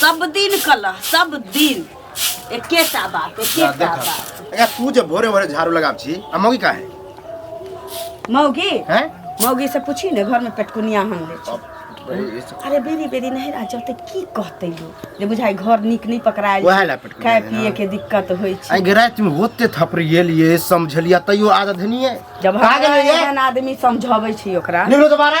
सब दिन कला सब दिन एकेटा बात एकेटा देखा। बात अगर तू जब भोरे भोरे झाड़ू लगाब छी आ मौगी का है मौगी हैं मौगी से पूछी ने घर में पेटकुनिया हम ले छी। अरे बेरी बेरी नहीं राजा ते की कहते लोग जे बुझाई घर निक नहीं पकड़ायल वएह ला पेट खाए कुनिया, पिए हाँ। के दिक्कत होई छै आई गिरा तुम होते थपरिए लिए समझलिया तैयो आदत नहीं है जब पागल है ये? हर आदमी समझाबै छै ओकरा निकलो दोबारा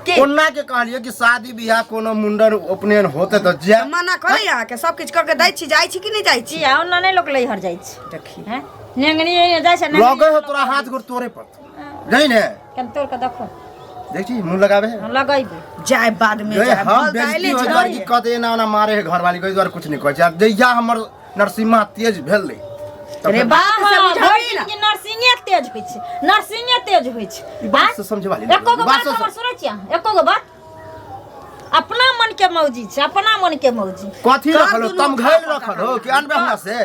की? कोना के कहलिए कि शादी बियाह कोनो मुंडन उपनयन होते तो जे मना करे यहाँ के सब किछ करके दै छी जाइ छी कि नहीं जाइ छी जी आओ ना नहीं लोग ले हर जाई छी देखी हैं नेंगनी ये जाय से लगे हो तोरा हाथ गोड़ तोरे पर नहीं ने कम तोड़ के देखो देख छी मुंह लगावे है हम लगैबे जाय बाद में गए जाय हम हम दाइले बेइज्जती हो जाए कि कते एना ओना मारे है घर वाली कोई द्वारा कुछ नहीं कहै छै आब जहिया हमर नरसिम्हा तेज भेलै अरे बा से बुझाबै भरि ना। दिन नर्सिंगे तेज होइ छै नर्सिंगे तेज होइ छै ई बात से समझे वाली एको गो बात हमर सुनै छियै अहाँ? एको गो बात अपना मन के मौजी छै अपना मन के मौजी कथी कान रखल हो दुनू तम घायल उठा रखल पकड़ हो कि अनबे हमरा से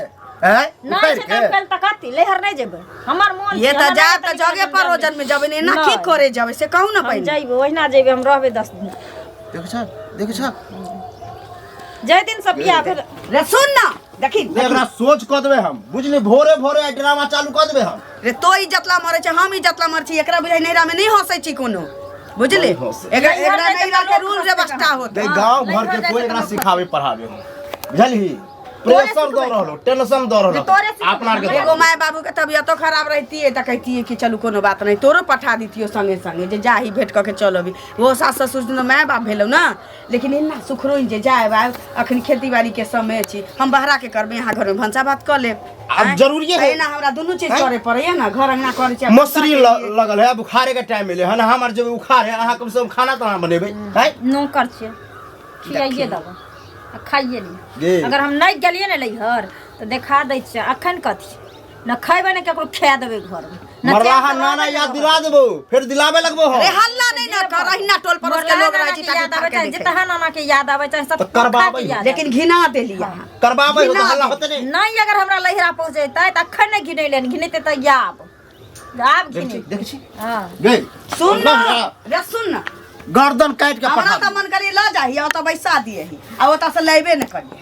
हैं नहि उतारि छै के तऽ कल तऽ कथी लेहर नहि जेबै हमर मन ये छै, त हमरा जा नहि त तरीका जगे से पर हम ओजन में जबे ने ना की नहि। करे जावे से कहू ना हम पहिले जइबै ओहिना जइबै हम रहबै दस दिन देख छ देख छ जाहि दिन से बियाह भेल रे सुन ना देखी ने एकरा सोच कऽ देबै हम बुझली भोरे भोरे आइ ड्रामा चालू कऽ देबै हम रे तो ई जतला मरे छै हम ई जतला मरे छी एकरा बुझाइ नैरा में नहीं हंसै छी कोनो बुझली नहीं हँसै। एकरा नैहर एकरा में तऽ नैरा के लोक रूल हँसै व्यवस्था छै। होत गई गांव घर के कोई एकरा सिखावे पढ़ावे हो बुझलही प्रेशर दऽ रहल हो टेंशन दऽ रहल हो तोरे सिखबै। अपना आर के एगो माय बाबू के तबियतो खराब रहतिए तऽ कहतिए कि चलू कोनो बात नहीं तोरो पठा दितियो संगे संगे जे जाही भेंट कऽ के चल अभी वो सास ससुर दिन माय बाप भेलौ ना लेकिन एना सुखरोइन जे जायब आयब अखन खेती बाड़ी के समय छी हम बहरा के करबे यहाँ घर में भंसा भात कर लेब आब आँय? जरूरिये है। एना हमरा दुनू चीज आँय? करे पड़ैया ना घर अंगना करे छी मसरी ल- लगल है बुखारे के टाइम मिले है ना हमार जब उखाड़ है अहाँ कम से कम खाना तो अहाँ बनेबै है नौकर छियै खियाइए देबै आ खाइए ली गे अगर हम नहि गेलियै ने लैहर तऽ देखा दै छियै अखन कथी न खैबे न केकरो खा देबे घर में न मरलाहा तेल नाना याद दिला देबो फिर दिलावे लगबो हम अरे हल्ला नहीं ना कर अहिना टोल पर के लोग रह जी ताकि याद आवे चाहे जितना नाना के याद आवे चाहे सब तो करबाबै। खा के याद आवे। लेकिन घिना देली यहाँ करबाबै हो तो हल्ला होते नहीं नहीं अगर हमरा लहरा पहुंचे तै त अखन नहीं घिनै लेन घिनते त याब आब देख घिनै छी, देख छी हां गई सुन ना रे सुन ना गर्दन काट के हमरा पठा तऽ मन करी लऽ जाही आ ओतऽ बैसा दियही आ ओतऽ से लेबे ने करियै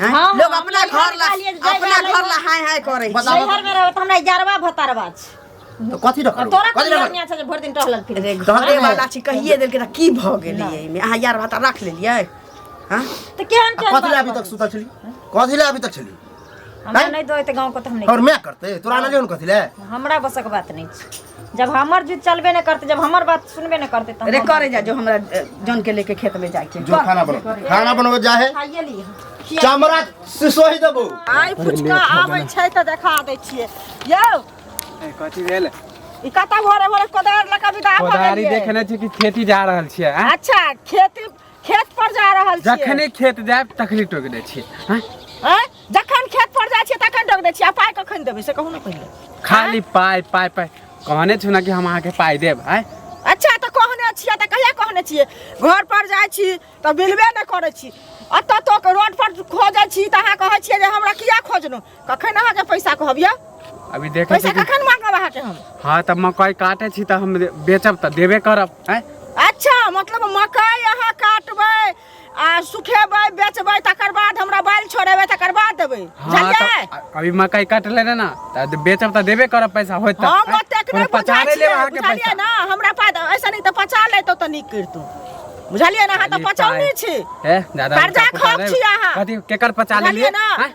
हैं? हाँ, हाँ, लोग अपना नैहर घर ला वाली एक जगह अपना अलग घर ला हाय हाय करे छी। बताओ। नैहर में रहत हमरा इजारवा भतारवा छै तो कथी रखल तोरा कथी कोन रखल दुनिया छै जे भरि दिन टहलल फिर अरे घरे वाला छी कहिए देलकै तऽ की भऽ गेलै एहिमे अहाँ यार भाता राख लेलियै हँ तऽ केहन केहन कथी ले अभी तक सुतल छली कथी ले अभी तक छली हमरा नहीं दो तो गांव को तो हम और नहीं मैं करते तोरा आनलियो ने कथी ले हमरा बसक बात नहीं छै जब हमर जिद चलबे न करते जब हमर बात सुनबे न करते तब अरे हम- करे जा जो हमरा अ, जन के लेके खेत में जाए के जो खाना बनो खाना बनबे जा है खाइए ली चमड़ा से सोहि देबो आइ फुचका आबै छै तऽ देखा दै छियै यौ ए, कथी भेल ई कतऽ भोरे भोरे कोदार लऽ कऽ विदा भऽ कोदारी गेलियै? देखने छी कि खेती जा रहल छियै आँय? अच्छा खेती खेत पर जा रहल छियै जखने खेत जायब तखने टोक दै छियै हैं? हैं? जखन खेत पर जाइ छियै तखन टोक दै छियै आ पाइ कखन देबै से कहू ने पहिले खाली पाइ पाइ पाइ कहने छौ ने कि हम अहाँके पाइ देब आय अच्छा तऽ कहने छियै तऽ कहिया कहने छियै घर पर जाइ छी तऽ मिलबे नहि करै छी एतऽ तक रोड पर खोजै छी तऽ अहाँ कहै छियै जे हमरा किया खोजलहुँ कखन अहाँके पैसा कहब यौ अभी देखै पैसा छी कि- कखन मांगब अहाँके हम हाँ तऽ मकई काटै छी तऽ हम बेचब तऽ देबे करब आँय अच्छा मतलब मकई अहाँ काटबै आ सुखेबै बेचबै तकर बाद हमरा बाल छोड़ेबै तकर बाद देबै हाँ बुझलियै तऽ अभी मकई कट लेने ना तऽ बेचब तऽ देबे करब पैसा होत तऽ हम आँय? ओतेक कोनो नहि पचा बुझाइ नहि लेब छियै अहाँके बुझलियै पैसा ने हमरा पास ऐसा नहि तऽ पचा लेतौ तऽ नीक करितौ बुझलियै ने अहाँ तऽ खाली पचौनी पाइ। छी हे दादा कर्जा उल्टा पुल्टा खोप नहि- छी अहाँ। कथी केकर पचा बुझलियै लेलियै ने? आँय?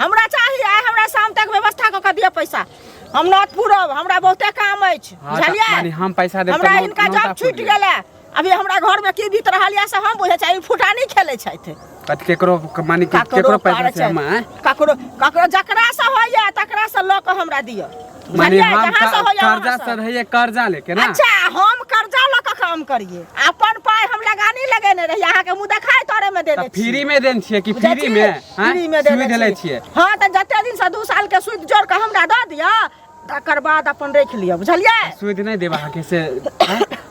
हमरा चाही आइ हमरा शाम तक व्यवस्था कऽ के दिअ पैसा हम नौत पूरब हमरा बहुते काम अछि हाँ, तऽ बुझलियै माने हम पैसा देब तऽ हमरा नौ- इनका नौता जॉब फूटि छूटि गेल। गेलै अभी हमरा घर में की बीत रहल यऽ से हम बुझै छियै ई फुटानी खेलै छथि कत- केकरो माने कि केकरो ककरो पैसा पार छै छै हम आँय? ककरो ककरो जकरा से होइए तकरा से लऽ कऽ हमरा दिअ माने बुझलियै? हम जहाँ से क- होइए कर्जा वहाँ से। चढ़ैया कर्जा लेके ना अच्छा हम कर्जा लऽ कऽ काम करिए अपन पाइ हम लगानी लगेने रही अहाँके मुँह देखाइ तोरे मे तऽ देने छी फ्री मे देन छियै कि बुझै फ्री छी? मे आँय? फ्री मे देने सुई देले छी। छियै हँ तऽ जते दिन से दू साल के सूद जोड़ कऽ हमरा दऽ दिअ तकर बाद अपन राखि लिअ बुझलियै सुई नहि देबा अहाँके से आँय?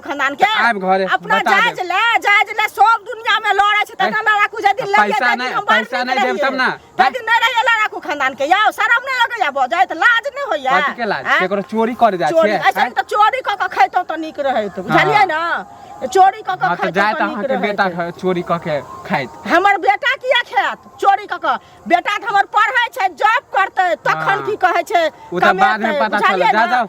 खानदान के आब घरे, अपना बता जायज देब। ले जायज ले सब दुनिया में लड़े छै तना ना राखू जे दिन ले पैसा जाय नहि- हम बाहर पैसा नहि देब तब ना। ते दिन नहि रहिए ला राखू खानदान के याओ शरम नहि लगै या बजै त लाज नहि होइया कथी के लाज आँय? केकरो चोरी कर जाय चोरी छै ऐसे त चोरी क के खैतौ त नीक रहैत बुझलियै ना चोरी क के हां त खैतौ जाय त त अहाँ नीक के बेटा रहैत ख- चोरी क के खाइत हमर बेटा किया खायत चोरी क के बेटा त हमर पढ़ै छै जॉब करतै तखन हँ। की कहै छै ओ त बाद में कमेतै, पता बुझलियै चलत जा ना? जाओ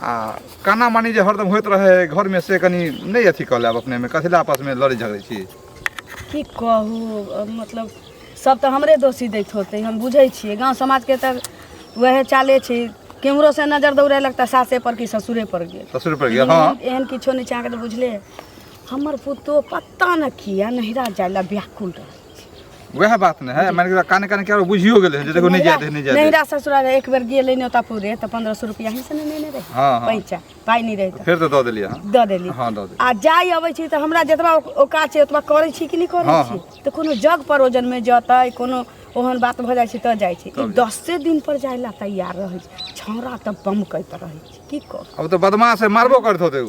आ काना मानी जे हरदम होइत रहे घरमे से कनि नहि अथी कऽ लेब अपनेमे कथी लए आपसमे लड़ै झगड़ै छी की कहू अ, मतलब सब तऽ हमरे दोषी दैत होतै हम बुझै छियै गाँव समाजके तऽ वएह चाले छै केम्हरो से नजर दौड़ेलक तऽ सासे पर कि ससुरे पर गेल ससुर पर गेल हँ एहन- एहन किछो नहि छै अहाँके तऽ बुझले हमर पुतोह पता नहि किया नहिरा जाय लए व्याकुल रहल वएह बात ने है माने काने काने क्या बुझियो गेले जे देखो नहीं जाय दे नहीं जाय नहीं रा ससुरा एक बेर गेले ने ओता पूरे त 1500 रुपया ही से ने ने रहे हां हां पैसा पाई नहीं रहे फिर तो द देलिए हां द देलिए हां द देलिए आ जाय अबै छी त हमरा जतबा ओका छै ओतबा करै छी कि नहीं करै हाँ, छी हाँ। त कोनो जग परोजन में जतै कोनो ओहन बात भ जाय छी त जाय छी 10 से दिन पर जाय ला तैयार रहै छी छौरा त बम कहैत रहै छी की कर अब त बदमाश है मारबो करथो ते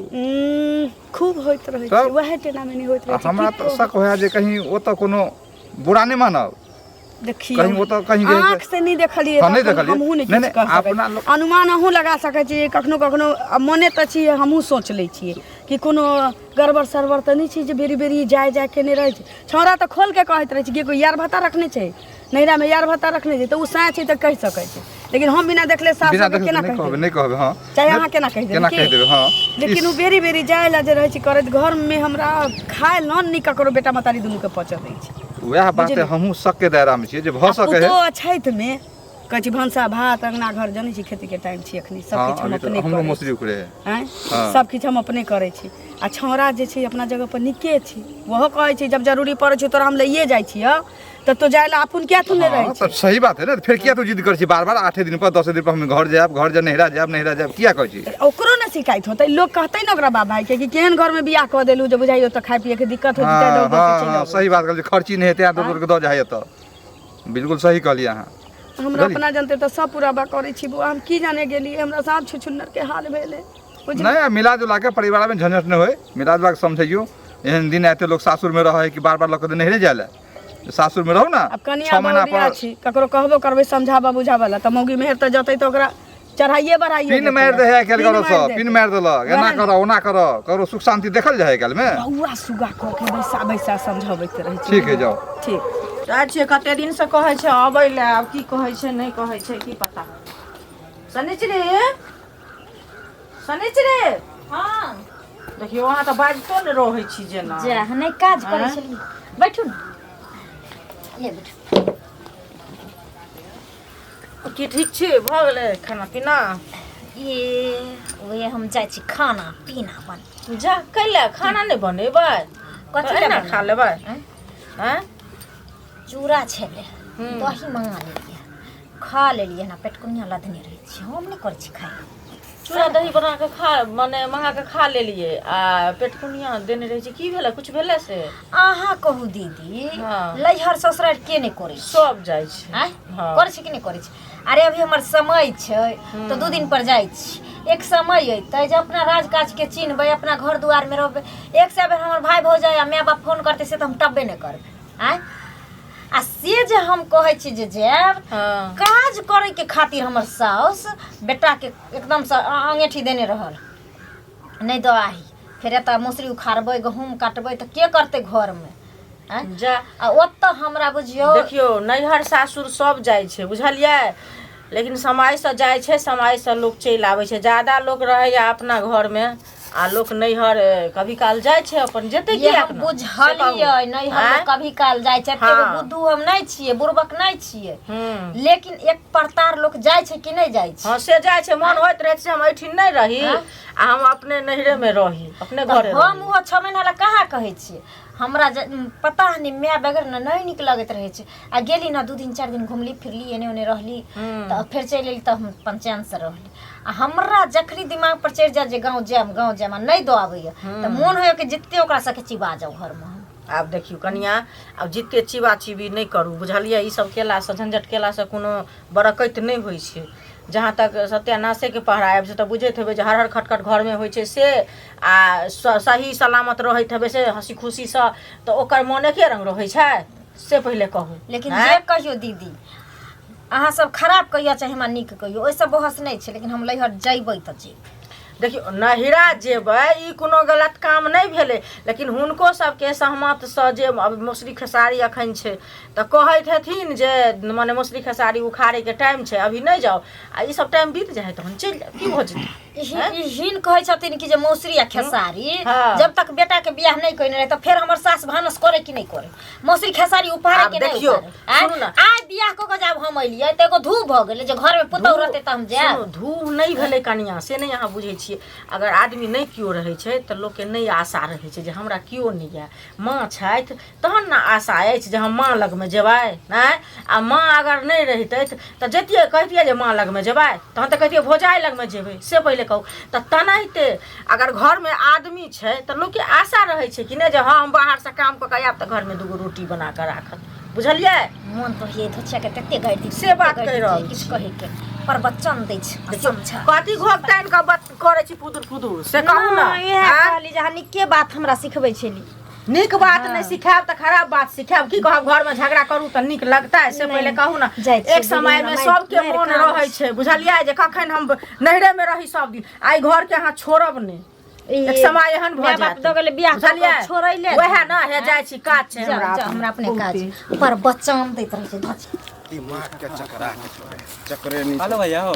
खूब होइत रहै छै तब? वएह टेना मेनी होइत रहै आ छै हमरा की तऽ कहू? शक होया जे कहीं ओतऽ कोनो बुरा नहि मानब देखियौ कहीं ओतऽ कहीं जे- आँख से नहि देखलियै हँ, नहि तखन देखलियै। हमहूँ नहि नहि, किछु नहि, कह सकैत अपना छी। लोक- अनुमान अहूँ लगा सकैत छी कखनो कखनो आ मने तऽ छी हमहूँ सोच लै छियै कि कोनो गड़बड़ सरबड़ तऽ नहि छै जे बेरी बेरी जाय जाय केने रहै छै छौड़ा तऽ खोल के कहैत रहै छै कि कोई यार भत्ता रखने छै नैहरामे यार भत्ता रखने छै तऽ ओ साँच छै तऽ कहि सकै छै लेकिन हम बिना देखले साफ बिना साफ देखले केना नहि कहि कहबै देबै? नहि कहबै हँ चाहे अहाँ केना कहि देबै केना की? कहि देबै हँ लेकिन ओ बेरी बेरी जाए ला जे रहै छै करैत घरमे हमरा खाए ला नहि ककरो बेटा मतारी दुनूके पचऽ दै छै वएह बात बुझलियै? हमहूँ सबके दायरामे छियै जे भऽ सकै है पुतोह छठिमे कहै छी भनसा भात अङ्गना घर जनै छी खेतीके टाइम छी एखनी हँ सभकिछु हम अभी तऽ अपने हमरो करै छी मौसरी उखड़े है आँय हँ। सब किछु हम अपने करै छी आ छौड़ा जे छै अपना जगह पर नीके छै ओहो कहै छै जब जरूरी पड़ै छै तोरा हम लइए जाइ छियौ तब तो जाए ला अपन क्या थुने रहे हाँ, तब सही बात है ना फिर क्या तू जिद कर छी बार बार आठे दिन पर दसे दिन पर हम घर जाब घर जा नहरा जाब नहरा जाब क्या कह छी ओकरो ना शिकायत होते लोग कहते ना ओकरा बाबा के कि केहन घर में बियाह कऽ देलू जे बुझाइयो तो खाए पिए के दिक्कत हो हाँ, जतै दौड़ हाँ, हाँ, दौड़ सही बात कहलिए खर्ची नहीं हेतै आदमी तोर के दऽ जाइए तो बिल्कुल सही कहलिए अहाँ हमरा बुझलियै? अपना जानते तो सब पूरा बा करै छी बुआ हम की जाने गेली हमरा साथ छुछुन्नर के हाल भेले कुछ नहीं आ, मिला जुला के परिवार में झंझट न होए मिला जुला के समझियो एहन दिन आते लोग सासुर में रहे कि बार बार लकत नहीं रह जाला सासुर में रहू ना अब कनिया छह महीना बहुरिया पर छी ककरो कहबो करबै समझाबा बुझाबा ला तऽ मौगी मेहर तऽ जतै तऽ ओकरा चढ़ाइए बढ़ाइए पिन देतै। मार दे है कल करो मारि सब देतै। पिन मार देलक एना वएह ने। करो ओना करो करो सुख शांति देखल जाए कल में बौआ सुगा कऽ के बैसा बैसा समझबैत रहै छै ठीक है जाओ ठीक जाइ छियै कते दिन से कहै छै अबै लए आब की कहै छै नहि कहै छै की पता सनिचरी शनिचरे हँ देखियौ अहाँ तऽ बाजितो ने रहै छी जेना जा नहि काज करै आँय? छलियै बैठू ने ले बैठू की ठीक छी भऽ गेलै खाना पीना ए ओहे हम जाइ छी खाना पीना बन जा कैले खाना नहि बनेबै कथी कथी लए ना खा लेबै आँय? आँय चूड़ा छलै हूँ। दही मंगा लेलियै खा लेलियै एना पेटकुनिया लदने रहै छी हम नहि करै छी खाय चूड़ा दही बना कऽ खा मने मंगा कऽ खा लेलियै आ पेटकुनिया देने रहै छी की भेलै कुछ भेलै से अहाँ कहू दीदी हाँ। लैहर ससुरार के नहि करै छै सब जाइ छै आँय? हाँ। करै छै कि नहि करै छै अरे अभी हमर समय छै हम्म। तऽ दू दिन पर जाइ छी एक समय अयतै जे अपना राज काज के चिन्हबै अपना घर दुआर में रहबै एक से बेर हमर भाय भौजाय आ माय बाप फोन करतै से तऽ हम टब्बे नहि करबै आय आ से जे हम कहै छी जे जायब हाँ काज करे के खातिर हमर साउस बेटा के एकदम से अ- अंगेठी देने रहल नहीं दो आही फिर एतऽ मौसरी उखाड़बै गहूम काटबै तऽ के करतै घर में आय जा आ ओतऽ हमरा बुझियौ देखियो नैहर सासुर सब जाइ छै बुझलियै लेकिन समयसँ जाइ छै समयसँ लोक चलि आबै छै ज्यादा लोक रहैए अपना घरमे आ लोक नैहर ए, कभी काल जाइ छै अपन जेतै ये किया हम अपना? बुझलियै नहि हम आँय? कभी काल जाइ छै एते हाँ। बुद्धू हम नहि छियै बुड़बक नहि छियै हूँ लेकिन एक प्रतार लोक जाइ छै कि नहि जाइ छै हँ से जाइ छै मन होइत रहै छै जे हम एहिठिन नहि रही आँय? आ हम अपने नैहरे मे रही अपने घरे तऽ हम रही। ओहो छओ महीना लए कहाँ कहै छियै हमरा जे उम, पता नहि माय बगैर ने नहि नीक लगैत रहै छै आ गेली ने दू दिन चारि दिन घुमली फिरली एने ओने रहली हूँ। तऽ फेर चलि एली तऽ हम पंचैन से रहली आ हमरा जखनी दिमाग पर चढ़ि जाय जे गाँव जायब गाँव जायब आ नहि दऽ आबैया तऽ मोन होइया कि जते ओकरा सबके चिबा जाउ घरमे हम। आब देखियौ कनिया आब जते चिबा चिबी नहि करू बुझलियै ई सब केलासँ झंझट केलासँ कोनो बरकैत नहि होइ छै जहाँ तक सत्यानाशेके पहरा आबि से तऽ बुझैत हेबै जे हर हर खटखट घरमे होइ छै से आ स- सही सलामत रहैत हेबै से हँसी खुशीसँ तऽ ओकर मोन एके रंग रहै छै से पहिले कहू लेकिन आँय? जे कहियो दीदी अहाँ सब खराब कहिया चाहे हमरा नीक कहियो ओहिसँ बहस नहि छै लेकिन हम लैहर जैबै तऽ जेबै देखियौ नहिरा जेबै ई कोनो गलत काम नहि भेलै लेकिन हुनको सबके सहमतसँ जे अब मौसरी खेसारी अखन छै तऽ कहैत हेथिन जे मने मौसरी खेसारी उखाड़ैके टाइम छै अभी नहि जाउ आ ई सब टाइम बीत जाइ है तहन चलि जायब की भऽ जेतै ई हिन- हैं? ई हिन कहै छथिन कि जे मौसरी आ खेसारी हाँ। जब तक बेटा के बियाह नहीं कइने रहे तो फिर हमर सास भानस करे कि नहीं करे मौसरी खेसारी उपहार आब के नहीं देखियो, उपहारे। आय- सुनू ना। आय बियाह क के जब हम अइलिए त एगो धू भ गेले जे घर में पुतौ धूह- रहते त हम जाएब सुनू, धूह नहीं भेलै कनिया से नहीं अहाँ बुझै छियै अगर आदमी नहीं केओ रहै छै तऽ लोकके नहि आशा रहै छै जे हमरा केओ नहि यए माँ छथि तहन ने आशा अछि जे हम माँ लगमे जेबै आँय आ माँ अगर नहि रहितै तऽ जैतियै कहितियै जे माँ लगमे जेबै तहन तऽ कहितियै भोजाइ लगमे जेबै से पहिले कहू तऽ तेनाहिते अगर घरमे आदमी छै तऽ लोकके आशा रहै छै कि नहि जे हँ हम बाहरसँ काम कऽ कऽ आयब तऽ घरमे दूगो रोटी बना कऽ राखत बुझलियै मोन पर ये धोछिया के तते गाड़ि दी से बात कहि रहल किछु कहै के पर बच्चा दे छै समझा कथी घोकताइन के बात करै छी पुदुर पुदुर से कहू ना इहे कहली जे हनी के बात हमरा सिखबै छेली नीक बात हाँ। नहीं सिखाब तो खराब बात सिखाब की कहब घर में झगड़ा करू तो निक लगता है से पहले कहू ना एक समय में सब के मन रहे छे बुझलिए जे कखन हम नहरे में रही सब दिन आई घर के हां छोड़ब नहीं एक समय एहन भ जात दो गेले बियाह बुझलिए छोड़ै ले वहे ना हे जाय छी काज छे हमरा हमरा अपने काज पर बच्चा हम दैत रहे छी धच दिमाग के चकरा के छोड़े चकरे नहीं हेलो भैया हो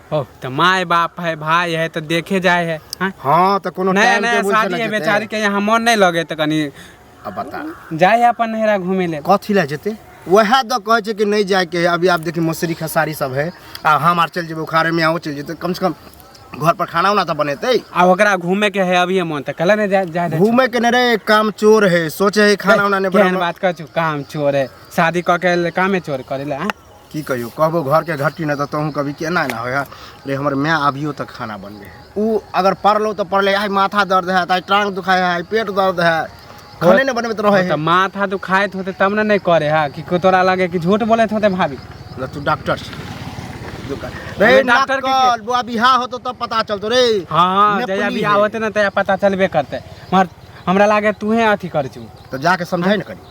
ओ तऽ माय बाप है भाय है तऽ देखे जाय है हाँ? हाँ तऽ कोनो नया टाइम नया टेबुल से शादी नहि है जेतै। बेचारी के यहाँ मन नहीं लगे तऽ कनी अब बता जाय है अपन नहरा घूमे ले कथी लए जेतै वएह दऽ कहै छै कि नहि जायके है अभी आब देखी मौसरी खेसारी सब है आ हम आर चलि जेबै उखाड़े में आओ चलि जेतै कम से कम घर पर खाना उना तऽ बनेतै आ ओकरा घूमे के है अभी मन तऽ कल ने जाय जाय दे घूमे के नहीं रे काम चोर है सोचे है खाना उना नहीं केहन बनाना बात कर चु काम चोर है शादी कऽ के ले कामे चोर करे ले हाँ? की कहियो कहबो घर के घट्टी ना तो तहूँ कभी केना ना होय रे हमर माय अभियो तक खाना बनबे है ऊ अगर पढ़लो तो पढ़ले आई माथा दर्द है आई टांग दुखाय है आई पेट दर्द है खाने ना बनबे तो रहे तो है माथा दुखाइत होते तब ना नहीं करे हा कि को तोरा लगे कि झूठ बोलत होते भाभी ना तू डॉक्टर छी। दुकान अबे रे डॉक्टर डॉक्टर के के- के बुआ बिहा होतो तब पता चलतो रे हाँ हाँ नेपली जहिया बियाह है। होते ना तहिया पता चलबे करते मगर हमरा लागे तूहे अथी कर छू तो जाके समझाई ना करी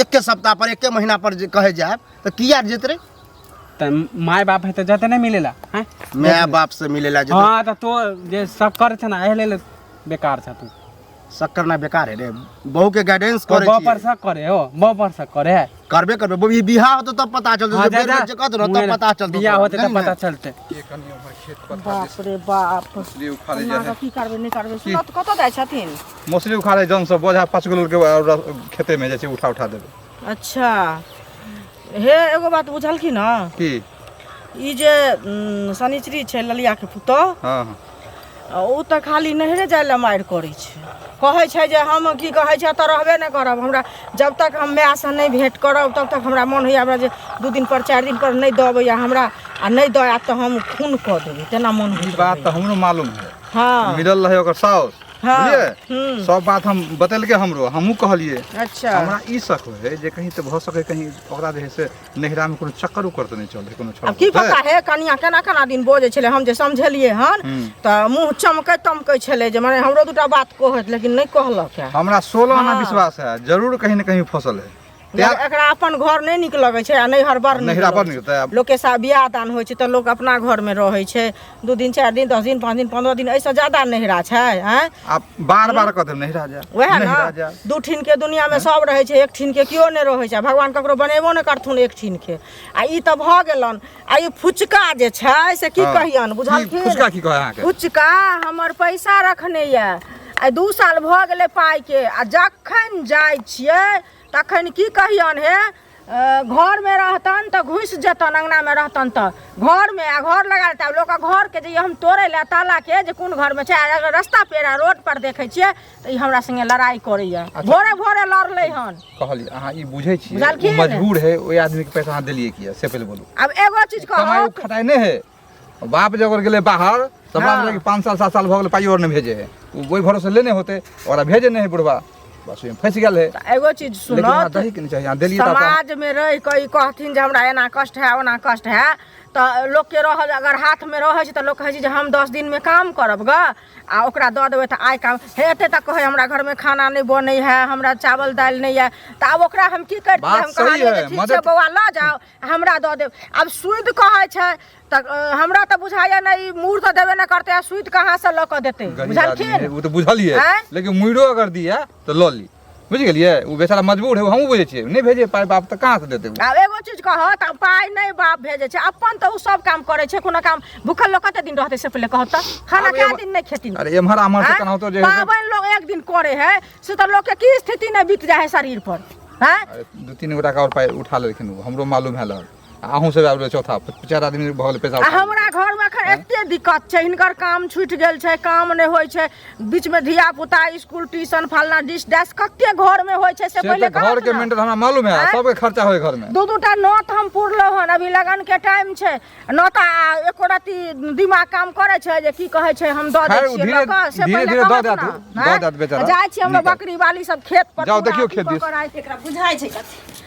एके सप्ताह पर एके महीना पर जे कहे जाए तो किया जेत रे त माय बाप है त जते नहीं मिलेला हैं माय बाप से मिलेला जे हां त तो जे सब करे छ ना एह लेल बेकार छ तू सब करना बेकार है रे बहू के गाइडेंस करे बहू पर सब करे हो बहू पर सब करे है करबे करबे बहू बियाह होतो तब पता चलतो हाँ, जब बेर जे कहत न तब पता चलतो बियाह होते तब पता चलते के कनी हमर खेत पता बाप रे बाप इसलिए उखाड़े जा है की करबे नहीं करबे सुनत कत जाय छथिन मौसरी उखाड़े जन सब बोझा पाँच किलो के और खेते में जैसे उठा उठा देबे अच्छा हे एगो बात बुझलखिन हँ की ई जे उम, शनिचरी छै ललिया के पुतह हाँ हाँ आ ओ तऽ खाली नहरे जाय लए मारि करै छै कहै छै जे हम की कहै छै एतऽ रहबे नहि करब हमरा जब तक हम मायसँ नहि भेँट करब तब तक हमरा मोन होइया हमरा जे दू दिन पर चारि दिन पर नहि दऽ अबैया हमरा आ नहि दऽ आयत तऽ हम खून कऽ देबै तेना मोन ई होइया बात तऽ हमरो मालूम है हाँ मिलल रहे ओकर साउस हँ बुझलियै हूँ सब बात हम बतेलकै हमरो हमहूँ कहलियै अच्छा हमरा ई शक होइ है जे कहीं तऽ भऽ सकै कहीं ओकरा जे है से नैहरा मे कोनो चक्कर उक्कर तऽ नहि चल है कोनो छौड़ा आब की पर, पता हे कनिया केना केना दिन बजै छलै हम जे समझलियै हन हूँ। तऽ मुँह चमकै तमकै छलै जे मने हमरो दूटा बात कहत लेकिन नहि कहलक है हमरा सोलह आना हँ। विश्वास है जरूर कहीं ने कहीं फसल है तैं- मगर एकरा अपन घर नहि नीक लगै छै आ नैहर बड़ नीक नैहरा बड़ लगै नीक छै। तैं- लोकके साथ बियाह दान होइ छै तऽ लोक अपना घरमे रहै छै दू दिन चारि दिन दस दिन पाँच दिन पन्द्रह दिन एहिसँ ज्यादा नैहरा छै आँय आ बार बार कह देब नैहरा जा वएह नैहरा जा ने दू ठिन के दुनिया मे सब रहै छै एक ठिन के केओ नहि रहै छै आ भगवान ककरो बनेबो नहि करथुन एक ठिन के आ ई तऽ भऽ गेलन आ ई फुचका जे छै से की हँ। कहियन की बुझलखिन फुचका की कहै अहाँके फुचका हमर पैसा रखने यऽ आइ दू साल भऽ गेलै पाइके आ जखन जाइ छियै तखन की कहियन हे अ, घरमे रहतन तऽ घुसि जेतन अङ्गनामे रहतन तऽ घरमे आ घर लगा लेतै आब लोकके घरके जे हम तोड़ै लए तालाके जे कोन घरमे छै आ अगर रस्ता पेरा रोड पर देखै छियै तऽ ई हमरा संगे लड़ाई करैया अच्छा। भोरे भोरे लड़लै हन कहलिए अहाँ ई बुझै छी बुझलखिन? मजबूर है ओहि आदमी के पैसा अहाँ देलिए किया से पहिले बोलू आब एगो चीज कमाई कहब खटाई नहीं है बाप जब गेले बाहर तब हाँ। बाप लगे पाँच साल सात साल भऽ गेलै पाइ और नहि भेजे है ओ ओहि भरोसे लेने होते ओकरा भेजे नहि है बुढ़वा बस ओहिमे फँसि गेल है तऽ एगो चीज लेकिन अहाँ सुनत दही के नहि चाही अहाँ देलिए तऽ अहाँ- समाज में रह के ई कहथिन जे हमरा एना कष्ट है ओना कष्ट है तऽ लोक के रह अगर हाथ में रहे छै तऽ लोक कहै छै जे हम दस दिन में काम करब ग आ ओकरा दऽ देबै तऽ आइ काम हे एते तक कहै हमरा घरमे खाना नहि बनै है हमरा चावल दालि नहि है तऽ आब ओकरा हम की करतियै बात हम सही कहलियै है, जे ठीक छै मदद- बौआ लऽ जाओ हमरा दऽ देब आब सुइत कहै छै तऽ अ, हमरा तऽ बुझाइया नहि ई मूर तऽ देबे नहि करतै आ सुइत कहाँ से लऽ कऽ देतै गरीब आदमी है, बुझलखिन वो तो बुझलिए आँय? लेकिन मुड़ो अगर दिया तो लॉली बुझि गेलियै ओ बेचारा मजबूर है हमहूँ बुझै छियै नहि भेजे पाइ बाप तऽ कहाँ से देतै आब एगो चीज कहऽ तऽ पाइ नहि बाप भेजै छै अपन तऽ ओ सब काम करै छै कोनो काम भूखल लोग कते दिन रहतै से पहिले कहऽ तऽ खाना कए दिन नहि खेती अरे एम्हर आम्हर से केनाहितो जे पाबनि लोग एक दिन करे है से तऽ लोग के की स्थिति नहि बीत जाए है शरीर पर हैं दू तीन गोटा का और पाइ उठा लेलखिन हमरो मालूम है लग अहूँ सब आबि चौथा चारि आदमी भऽ गेल पैसा आ हमरा घरमे एखन एते दिक्कत छै हिनकर काम छूटि गेल छै काम नहि होइ छै बीचमे धिया पुता स्कूल ट्यूशन फलना डिश डैश कते घरमे होइ छै से से पहिले तऽ घर के मेंटेन हमरा मालूम है आँय? सबके खर्चा होय घर में दू दू टा नौत हम पुरलहुँ हन अभी लगन के टाइम छै नौता एको रति दिमाग काम करे छै जे की कहे छै हम दऽ दै खैर, ओ छियै धीरे- लऽ कऽ, से धीरे- पहिले धीरे दऽ कहत देत, ने, दऽ आँय? देत बेचारा। जाइ छी हम निकल। बकरी वाली सब खेत पर जाउ, पूरा देखियौ अथी खेत कऽ दिस। कऽ राखि- एकरा बुझाइ छै कथी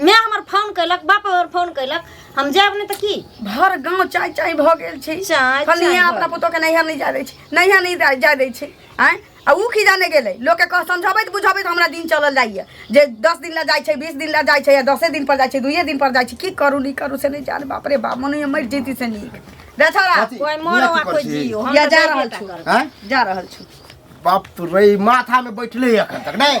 माय हमर फोन कैलक बाप हमर फोन कैलक हम जायब नहि तऽ की भर गांव चाय चाय भऽ गेल छै चाय, फलनिया चाय अपना भऽ पुतोह के नैहर नहीं जा दै छै नैहर नहीं जा- जा दै छै आय आ ऊ की जाने गेलै लोक के कह समझबैत बुझबैत हमरा दिन चलल जाइए जे दस दिन ला जाइ छै बीस दिन ला जाइ छै या दसे दिन पर जाइ छै दुइये दिन पर जाइ छै की करू नहीं करू से नहीं जान बाप रे बाप मनुए मरि जैती से नीक रे छोरा कथी? कोई मरो इहाँ आ की कोई करछी? जियो हम या तऽ जा जाइबे रहल टा छु। करब। आँय? जा रहल छु बाप रे माथा में बैठले है अखन तक नहीं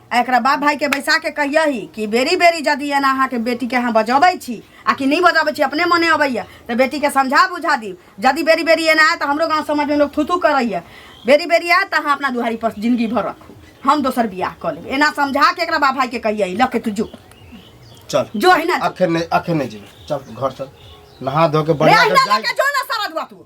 आ एकरा बाप भाई के बैसा के कहिया ही कि बेरी बेरी जदि एना अहाँ के बेटी के अहाँ बजबै छी आ कि नहीं बजबै छी अपने मने अबैया तो बेटी के समझा बुझा दी जदि बेरी बेरी एना आए तो हमरो गाँव समाज में लोग थूथू करैया बेरी बेरी आए तो अहाँ अपना दुहारी पर जिंदगी भर रखू हम दोसर बियाह कऽ लेब एना समझा के एकरा बाप भाई के कहिया ही लके तू जो चल जो है ना अखन नहीं अखन नहीं जेबे चल घर चल नहा धो के रे बढ़िया अहिना से जाए लके जो ना सारा दुआ तू